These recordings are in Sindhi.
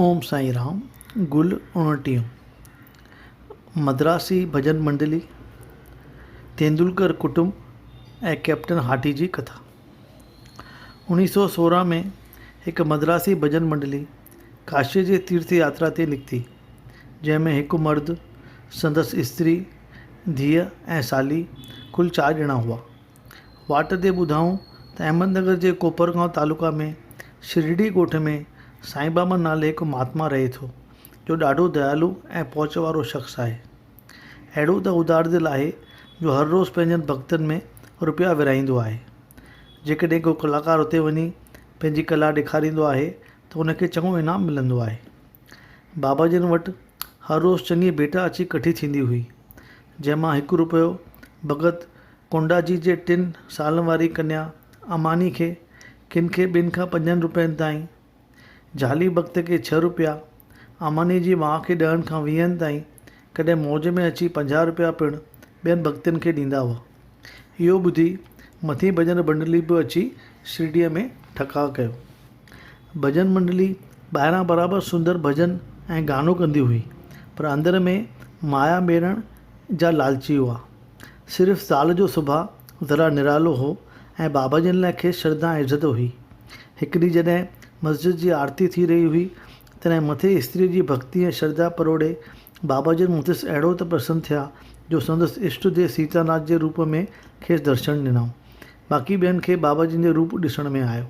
اوم سائين رام گل اوڻٽيهون، مدراسي ڀڄن منڊلي، تيندولڪر ڪٽنب ۽ ڪئپٽن هاٽي جي ڪٿا. اوڻيهه سؤ سورهن ۾ هڪ مدراسي ڀڄن منڊلي ڪاشيء جي تيرٿ ياترا تي نڪتي، جنهن ۾ هڪ مرد، سندس استري، ڌيء ۽ سالي ڪل چار ڄڻا هئا. واٽ تي ٻڌائون ته احمد نگر جي ڪوپرگائون تعلقي ۾ شرڙي ڳوٺ ۾ سائين ٻاٻا نالي هڪ مهاتما رهي ٿو جو ڏاڍو ديالو ۽ پهچ وارو شخص آهي. اهڙو ته ادار دل آهي جو هر روز پنهنجن ڀڳتن ۾ روپيا ورهائيندو آهي. جيڪڏهن ڪو ڪلاڪار اتي وڃي پنهنجي ڪلا ڏيکاريندو آهي ته ان کي چڱو انعام ملندو آهي. بابا جن وٽ هر روز چڱي ڀيٽا اچي ڪٺي ٿيندي هئي جنهن مان هڪ روپيو ڀڳت ڪونڊاجي جي ٽن سالن واري ڪنيا اماني کي ڪن کي ٻن کان پنجن روپين تائين، جهالي بخت کي ڇهه روپيا، اماني جي ماء کي ڏهن کان ويهن تائين ڪڏهن موج ۾ اچي پنجاهه روپيا پڻ ٻين بختين کي ڏيندا هئا. اهو ٻڌي مٿين ڀڄن منڊلي به اچي شرڊيء ۾ ٺڪاء ڪيو. ڀڄن منڊلي ٻاهران برابر سندر ڀڄن ۽ گانو ڪندي هئي پر اندر ۾ مايا ميڙڻ جا لالچي هئا. صرف زال جو سڀاء ذرا نرالو هو ۽ بابا جن لاء کيس شرڌا ۽ عزت هئي. هڪ ڏينهن جڏهن مسجد جي آرتي ٿي رهي هئي، تڏهن مٿي استريء جي ڀڳتي ۽ شرڌا پروڙي بابا جن مٿس اهڙو ته پرسن ٿيا جو سندس اشٽ ديو سيتا ناٿ جي روپ ۾ کيس درشن ڏنائون. باقي ٻين کي بابا جن جو روپ ڏسڻ ۾ آيو.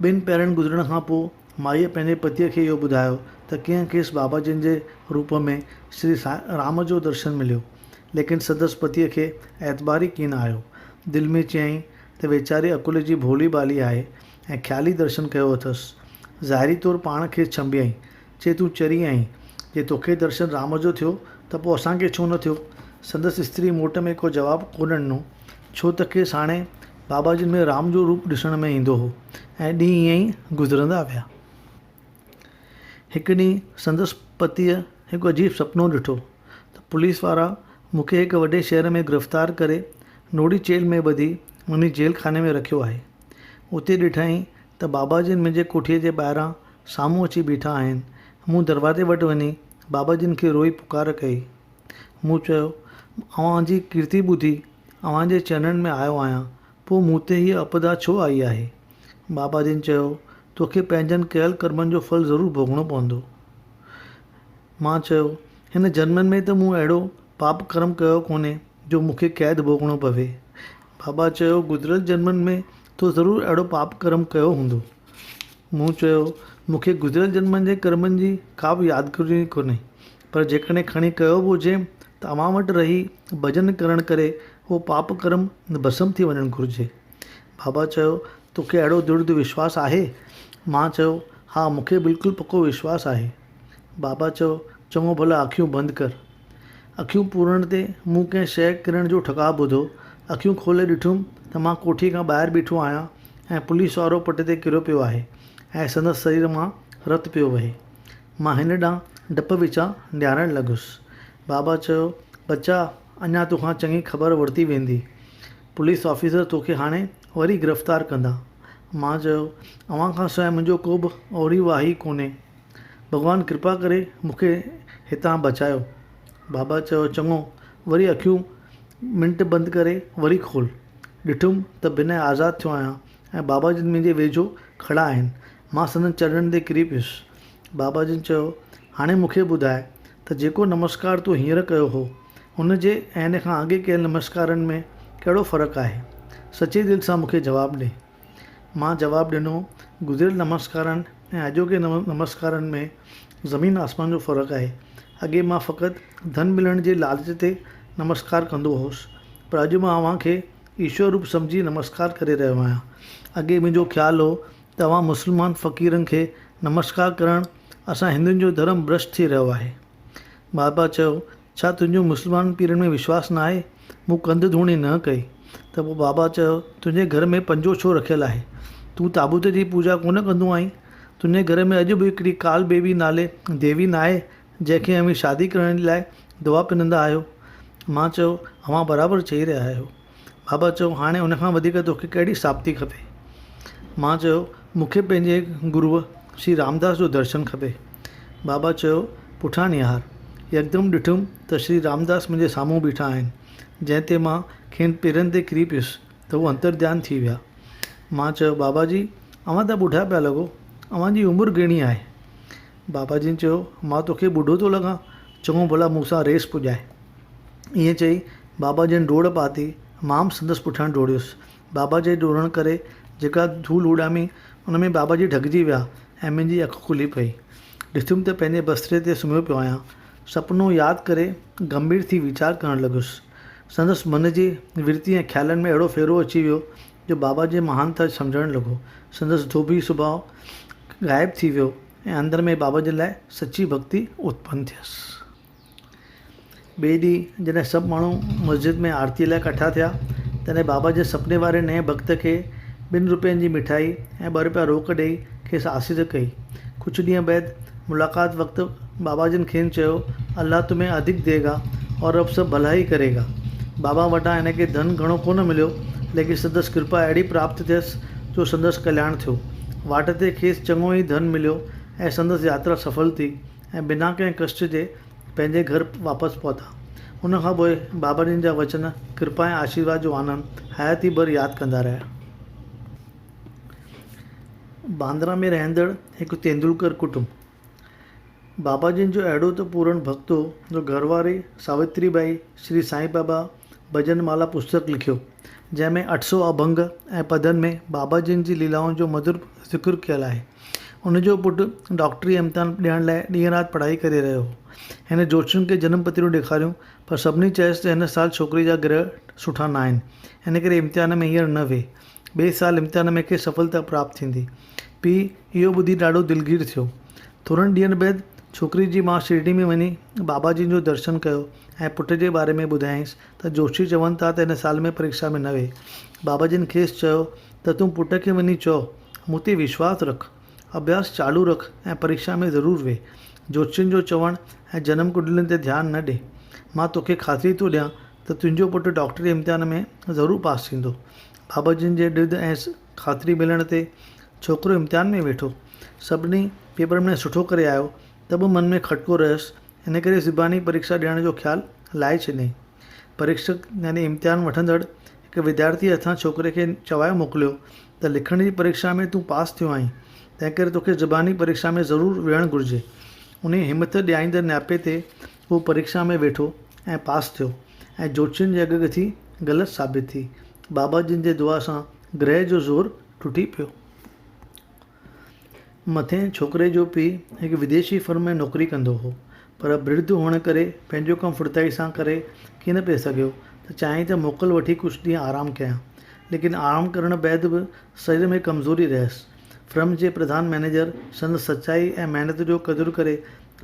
ٻن پهرن گذرڻ کان پوء مائيء پنهنجي پتيء کي اهو ٻڌايو ته ڪيئن کيس بابا جن جي روپ ۾ شري سائين رام جو درشن مليو. ليڪن سندس پتيء کي اعتبار ئي ڪين آيو. دل ۾ چيائين ته ويچاري عقل جي ڀولي ڀالي آهي ۽ خيالي درشن ڪيو اٿس. ظاهري طور پاڻ کيس ڇنڀيائين. چي تون چري آهين، جي توکي درشن رام جو ٿيو ته پوء اسان کي ڇو نه ٿيو؟ سندس استري موٽ ۾ ڪو جواب ڪونه ڏنو، ڇو ته کيس هاڻي بابا جن ۾ رام جو روپ ڏسڻ ۾ ايندو هو ۽ ڏينهن ائين ئي گذرندا ويا. هڪ ڏينهن سندس پتيء هڪ عجيب سپنو ڏٺو ته پوليس وارا مون کي هڪ وڏي شهر ۾ گرفتار ڪري نوڙي چيلهه ۾ ٻڌي منهنجي جيل خاني ۾ رکيو آهي. اتي ڏٺائين ته بابا جن منهنجي ڪوٺيء جي ٻاهران سامهون اچي بيٺا آهن. مون دروازي وٽ وڃي بابا جن کي روئي پڪار ڪئي. مون چيو، اوهان جي ڪيرتي ٻڌي اوهان جي چرنن ۾ آيو آهيان، پوء مون تي هيء اپدا ڇو آئي آهي؟ بابا جن چيو، توکي پنهنجن ڪيل ڪرمن جو ڦل ضرور ڀوڳڻو پوندو. مان چيو، هن جنمن ۾ ته مون اهڙو پاپ ڪرم ڪيو ڪونهي جو مون کي قيد ڀوڳڻو پوي. بابا چيو، گذريل جنمن ۾ تو ضرور اهڙو پاپ ڪرم ڪيو هوندو. مون چيو، مون کي گذريل جنمن جي ڪرمن جي ڪا به يادگيري ڪونهي، پر جيڪڏهن کڻي ڪيو به هجي ته اوهان وٽ رهي ڀڄن ڪرڻ ڪري اهو پاپ ڪرم ڀسم ٿي وڃڻ گهرجي. بابا چيو، توکي اهڙو درڍ وشواس آهي؟ مان چيو، ها مون کي بلڪل پڪو وشواس آهي. بابا چيو، چڱو ڀلا اکيون بند ڪر. اکيون پورڻ تي مون ڪنهن شيء ڪرڻ جو ٺڪاء ٻڌو. اکيون کولي ڏٺم ته مان ڪوٺيء کان ٻاهر بيٺو آهيان ۽ پوليس وارو پٽ تي ڪريو پيو آهي ۽ سندس سرير مان رت پيو وهي. مان هن ڏانهن ڊپ وچان نهارڻ لڳس. بابا چيو، ٻچا، اڃا تو کان چڱي خبر ورتي ويندي. پوليس آفيسر تو کي هاڻي وري گرفتار ڪندا. مان چيو، اوهان کان سواء منهنجو ڪوبه اوري واهي ڪونهي. ڀڳوان ڪرپا ڪري مون کي هتان بچايو. بابا چيو چڱو وري اکيون منٽ بند ڪري وري کول. ڏٺم ته بنهه آزاد ٿيو آهيان ۽ بابا جن منهنجي ويجهو کڙا آهن. مان سندن چرڻن تي ڪري پيس. بابا جن چيو هاڻي مون کي ٻڌاء ته جيڪو نمسڪار تون هينئر ڪيو هو ان جي ۽ ان کان اڳي ڪيل نمسڪارن ۾ ڪهڙو فرق آهي. سچي دل سان مون کي جواب ڏي. مان جواب ڏنو، گذريل نمسڪارن ۽ اڄوڪي نمسڪارن ۾ زمين آسمان جو فرق آهي. اڳي مان فقط ڌن ملڻ جي لالچ تي نمسڪار ڪندو هوس، پر اڄ مان اوهان کي ايشور روپ سمجهي نمسڪار ڪري رهيو آهيان. اڳي منهنجو خيال هو ته اوهان مسلمان فقيرن کي نمسڪار ڪرڻ اسان هندن جو ڌرم ڀرشٽ ٿي رهيو آهي. بابا چيو ڇا تنهنجو مسلمان پيرن ۾ وشواس نه آهي؟ مون ڪنڌ ڌوڻي نه ڪئي ته پوء بابا چيو، تنهنجي گهر ۾ پنجو ڇو رکيل آهي؟ تون تابوت جي پوڄا ڪونه ڪندو آهين؟ تنهنجي گهر ۾ اڄ به هڪڙي ڪال بيوي نالي ديوي نه آهي، جنهن کي اوهين شادي ڪرڻ جي لاء دعا پنندا آهيو؟ مان چيو، اوهان برابر چئي رهيا آهيو. بابا چيو هاڻي ان کان وڌيڪ توکي ڪهڙي ساڀتي کپي؟ مان چيو مونکي پنهنجي گروء شري رامداس جو درشن کپي. بابا چيو پٺيان نهار. يڪدم ڏٺم ته شري رامداس منهنجي سامهون بيٺا آهن، جنهن تي مان کين پيرن تي ڪري پيس ته هو انترڌيان ٿي ويا. مان چيو بابا جي اوهان ته ٻڍا پيا لڳو، اوهان جي عمر گهڻي آهي؟ بابا جن چيو مان توکي ٻڍو ٿو لڳان، چڱو ڀلا مون سان ريس پڄاء. ائين چئي بابا جن ڊوڙ پاتي، مان به سندس پٺيان ڊوڙيس. بابا جي ڊوڙڻ ڪري جيڪا ڌول اڏامي، ان ۾ بابا جي ڍڪجي ويا ۽ منهنجي اک کلي پئي. ڏٺم ته پنهنجي بستري تي سمهيو پيو آهيان. سپنو ياد ڪري گنڀير ٿي ويچار ڪرڻ لڳس. سندس من جي ورتي ۽ خيالن ۾ اهڙو ڦيرو اچي ويو جو بابا جي مهانتا سمجهڻ لڳو. سندس ڌوٻي سڀاء غائب ٿي ويو ۽ اندر ۾ بابا جن لاء سچي ڀڳتي اتپن ٿيس. ٻئي ڏينهن جڏهن سڀ ماڻهو مسجد ۾ آرتيء لاء ڪٺا ٿيا، تڏهن بابا جي سپني واري نئين ڀڳت کي ٻن روپين جي مٺائي ۽ ٻه روپيا روڪ ڏيئي کيس آسيز ڪئي. ڪجهه ڏينهن بعد ملاقات وقت بابا جن کين چيو، الله تمهين ادھڪ دئي گا اور رب سب ڀلا هي ڪري گا. بابا وٽان هن کي ڌن گهڻو ڪونه مليو، ليڪن سندس ڪرپا اهڙي پراپت ٿيس جو سندس ڪلياڻ ٿيو. واٽ تي کيس چڱو ئي ڌن مليو ۽ سندس ياترا سڦل ٿي. ۽ بنا ڪنهن ڪشٽ جي پنهنجي گهر واپس پهتا. ان کان پوء بابا جن جا وچن، ڪرپا ۽ آشيرواد جو آنند حياتي ڀر ياد ڪندا رهيا. باندرا ۾ رهندڙ هڪ تيندولڪر ڪٽنب بابا جن جو اهڙو ته پورڻ ڀڳت هو جو گهر واري ساوتري ٻائي، شري سائين بابا، ڀڄن مالا پستڪ لکيو، جنهن ۾ اٺ سؤ اڀنگ ۽ پدن ۾ بابا جن جي ليلائن جو مڌر ذڪر ڪيل آهي. هن جو پٽ ڊاڪٽري جا امتحان ڏيڻ لاء ڏينهن رات پڙهائي ڪري رهيو هو. هن جوتشين کي جنم پتريون ڏيکاريون پر سڀني چيس ته هن سال ڇوڪري جا گرهه سٺا ناهن، ان ڪري امتحان ۾ هينئر نه ويهه. ٻئي سال امتحان ۾ کيس سڦلتا پراپت ٿيندي. پيء اهو ٻڌي ڏاڍو دلگير ٿيو. ٿورن ڏينهن بعد ڇوڪري جي ماء شرڊي ۾ وڃي بابا جن جو درشن ڪيو ۽ پٽ جي باري ۾ ٻڌايائينس ته جوشي چون ٿا ته هن سال ۾ پريڪشا ۾ نه ويهي. بابا جن کيس چيو ته تون پٽ کي وڃي چئو مون تي وشواس رک، اڀياس چالو رک ۽ پريڪشا ۾ ضرور ويهه. جوشين جو چوڻ ۽ جنم ڪنڊلين تي ڌيان نه ڏي. مان توکي خاطري ٿو ڏيان ته تنهنجو پٽ ڊاڪٽري امتحان ۾ ضرور پاس ٿيندو. بابا جن جي ڏڌ ۽ خاطري ملڻ تي ڇوڪرو امتحان ۾ ويٺو. سڀني پيپرن ۾ سٺو ڪري آيو ته به من ۾ کٽڪو رهيس، ان ڪري زباني پريکشا ڏيڻ جو خيال لاهي ڇڏيائين. پريکشڪ يعني امتحان وٺندڙ هڪ وديارٿيء هٿان ڇوڪري کي چوائي موڪليو ته لکڻ جي پريکشا ۾ تون پاس ٿيو آهين، تنهنڪري توکي زباني پريکشا ۾ ضرور ويهڻ گهرجي. انهيء همٿ ڏياريندڙ نياپي تي هو پريڪشا ۾ ويٺو ۽ پاس ٿيو ۽ جوتشين جي اڳڪٿي غلط ثابت ٿي. بابا جن جي دعا سان گرهه جو زور ٽٽي پيو. مٿئين ڇوڪري جو پيء هڪ وديشي فرم ۾ نوڪري ڪندو هو، پر برڌ هئڻ ڪري پنهنجو ڪم ڦڙتائي سان ڪري ڪين پئي سگهيو ته چيائين ته موڪل وٺي ڪجهه ڏينهن آرام ڪيان. ليڪن آرام ڪرڻ بعد به سرير ۾ ڪمزوري رهيس. فرم جي پرڌان مئنيجر سندس سچائي ۽ محنت جو قدر ڪري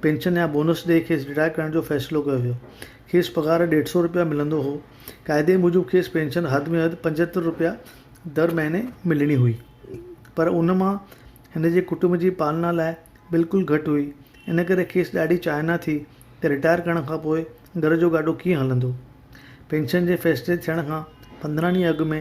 پينشن يا بونس ڏئي کيس رٽائر ڪرڻ جو فيصلو ڪيو ويو. کيس پگهار ڏيڍ سئو رپيا ملندو هو. قاعدي موجب کيس پينشن حد ۾ حد پنجهتر رپيا در مهيني ملڻي هئي. پر ان مان هن جي ڪٽنب جي پالنا لاء بلڪل گهٽ هئي. ان ڪري کيس ڏاڍي چاهنا ٿي ته رٽائر ڪرڻ کان پوء گهر جو گاڏو ڪيئن هلندو. پينشن جي فيصلي ٿيڻ کان پندرهن ڏينهن اڳ ۾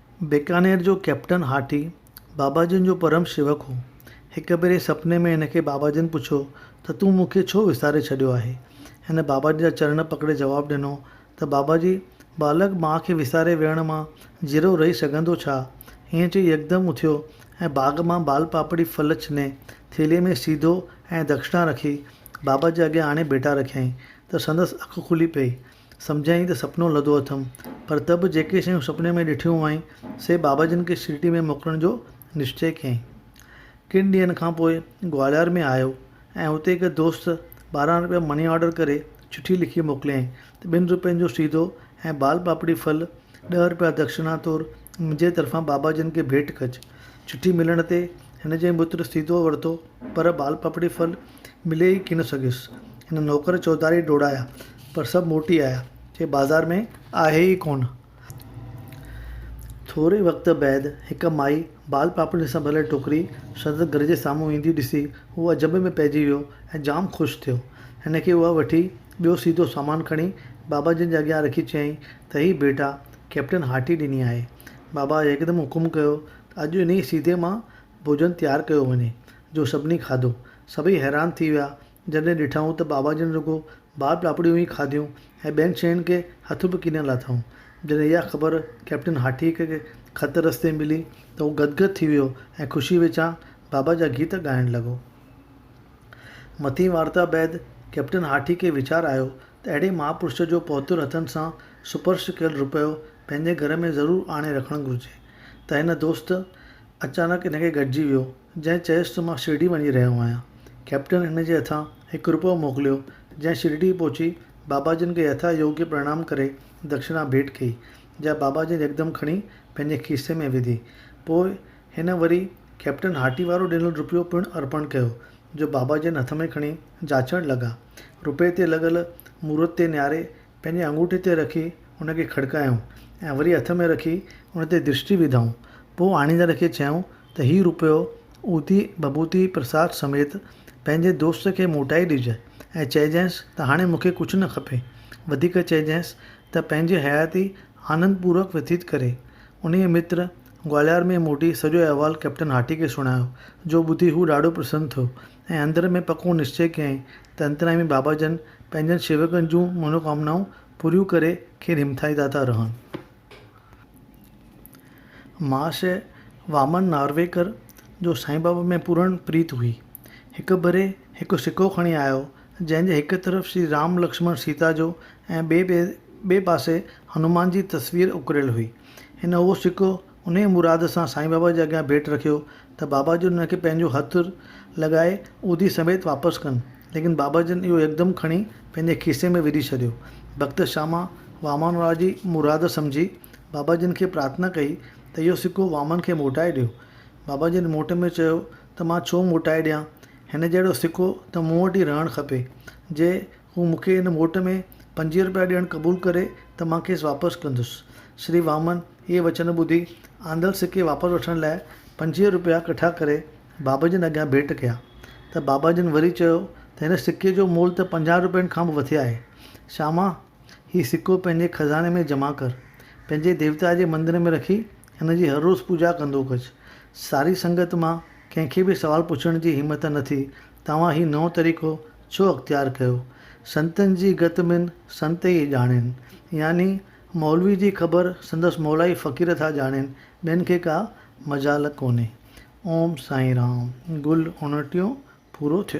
بيڪانير جو ڪئپٽن هاٺي بابا جن جو پرم شيوڪ هو. هڪ ڀيري سپني ۾ هن کي بابا جن پڇيو ته تون مون کي ڇو وساري ڇڏيو آهي؟ هن بابا جن جا چرڻ پڪڙي جواب ڏنو ته بابا جي! ٻالڪ ماء کي وساري ويهڻ مان جيرو رهي سگهندو ڇا؟ ائين چئي يڪدم اٿيو ۽ باغ مان بال پاپڙي ڦل ڇني ٿيلهي ۾ سيڌو ۽ دکشڻا رکي بابا جي اڳيان آڻي ڀيٽا رکيائين ته سندس اک کلي پئي سمجهيائين ته سپنو لڌو اٿم، پر ته به جيڪي شيون سپني ۾ ڏٺيون هئائين، سي بابا جن کي شرڊي ۾ موڪلڻ جو نشچي ڪيائين. ڪن ڏينهن کان پوء گواليار ۾ آيو ۽ اتي هڪ دوست ٻارهن روپيا مني آرڊر ڪري چٺي لکي موڪليائين ته ٻن روپين جو سيدو ۽ بال پاپڙي ڦل ڏهه روپيا دڪشنا طور منهنجي طرفان بابا جن کي ڀيٽ ڪج. چٺي ملڻ تي هن جي مٽ سيدو ورتو، پر بال پاپڙي ڦل ملي ئي ڪين سگهيس. هن نوڪر چوڌاري ڊوڙايا، پر سڀ موٽي آيا، چي بازار ۾ آهي ئي ڪونه. ٿوري وقت بعد هڪ مائي بال پاپڙين سان ڀريل ٽوڪري سندس گهر جي سامهون ايندي ڏسي، هو عجب ۾ پئجي ويو ۽ جام خوش ٿيو. هن کي اها وٺي، ٻيو سيڌو سامان کڻي بابا جن جي اڳيان رکي چيائين ته هي ڀيٽا ڪئپٽن هاٽي ڏني آهي. بابا يڪدم حڪم ڪيو ته اڄ انهيء سيڌي مان ڀوڄن تيار ڪيو وڃي. جو سڀني کاڌو. سڀئي حيران ٿي ويا جڏهن ڏٺائون ته بابا جن رڳو بار پاپڙيون ئي کاڌيون ۽ ٻين شين کي هٿ به ڪينه لاٿائون. جڏهن اها خبر ڪئپٽن هاٺيء کي خط رستي ملي ته هو گدگد ٿي ويو ۽ خوشيء وچان بابا جا گيت ڳائڻ لڳو. مٿين وارتا بعد ڪئپٽن هاٺيء کي ويچار آيو ته اهڙي مهاپرش جو پهتر هٿن سان سپرش ڪيل رپيو پنهنجي گهر ۾ ضرور آڻي رکڻ گهرجي ته هن دوست اچانڪ هن کي گڏجي ويو جنهن چيس ته مان شرڊي وڃي رهيو آهيان. ڪئپٽن هن جي هٿان هڪ رپئو موڪليو، جنهن شرڊي پهچي بابا جن کي يٿا يوگيه پرڻام ڪري دڪشنا ڀيٽ ڪئي، جا بابا جن يڪدم کڻي پنهنجي کيسي ۾ وڌي. پوء هن وري ڪئپٽن هاٽي وارو ڏنل رپيو پڻ ارپڻ ڪيو، جو بابا جن هٿ ۾ کڻي جاچڻ لڳا. رپئي تي لڳل مورت تي نهاري پنهنجي آڱوٺي تي رکي ان کي کڙڪايائون ۽ وري هٿ ۾ رکي ان تي درشٽي وڌائون. پوء آڻيندڙ کي چيائون ته هي روپيو اوتي بڀوتي پرساد سميت پنهنجي دوست کي موٽائي ڏج ۽ چئجانئس ته هاڻي مون کي ڪجهه نه کپي. وڌيڪ چئجانئس ته پنهنجي حياتي آنند پورڪ وتيت ڪري. انهيء متر گواليار ۾ موٽي سڄو احوال ڪئپٽن هاٽي کي سڻايو، جو ٻڌي هو ڏاڍو پرسن ٿيو ۽ اندر ۾ پڪو نشچي ڪيائين ته انتريامي بابا جن پنهنجن شيوڪن جون منوڪامنائون پوريون ڪري کين همٿائيندا ٿا رهن. مهاشيه وامن نارويڪر جو سائين بابا ۾ پورڻ پريت هئي. هڪ ڀيري هڪ سڪو کڻي آيو، جنهن جي هڪ طرف شري رام لڪشمڻ سيتا جو ۽ ٻئي پاسي هنومان جي تصوير اڪريل هئي. هن اهو سڪو انهيء مراد سان سائين بابا جي اڳيان ڀيٽ رکيو ته بابا جن هن کي پنهنجو هٿ لڳائي عودي سميت واپس ڪن، ليڪن بابا جن اهو يڪدم کڻي پنهنجي کيسي ۾ وجهي ڇڏيو. ڀڳت شاما وامان وارا جي مراد سمجهي بابا جن کي پرارٿنا ڪئي ته اهو سڪو وامان کي موٽائي ڏيو. بابا جن موٽ ۾ چيو ته مان ڇو موٽائي ڏيان، هن جهڙو سڪو ته مون وٽ ئي رهڻ کپي، جي هو مون کي ان موٽ ۾ پنجويهه روپيا ڏيڻ قبول ڪري ته مان کيس واپس ڪندس. شري واهمن اهي وچن ٻڌي آندل سڪي واپس وٺڻ لاء پنجويهه روپيا ڪٺا ڪري بابا جن اڳيان ڀيٽ ڪيا ته بابا جن وري چيو ته هن سڪي جو مول ته پنجاهه روپين کان به وٿي آهي شاما! هي سڪو پنهنجي خزاني ۾ جمع ڪر. پنهنجي ديوتا جي مندر ۾ رکي هن جي هر روز پوڄا ڪندو ڪج. ساري سنگت مان ڪنهن کي به سوال پڇڻ جي همت نه ٿي. توهان هي نئون طريقو ڇو اختيار ڪيو؟ سنتن جي گت مين سنت ئي ڄاڻين. يعني مولوي جي خبر سندس مولائي فقير ٿا ڄاڻين، ٻين کي ڪا مجال ڪونهي. اوم سائين رام. گل اڻٽيهون پورو ٿيو.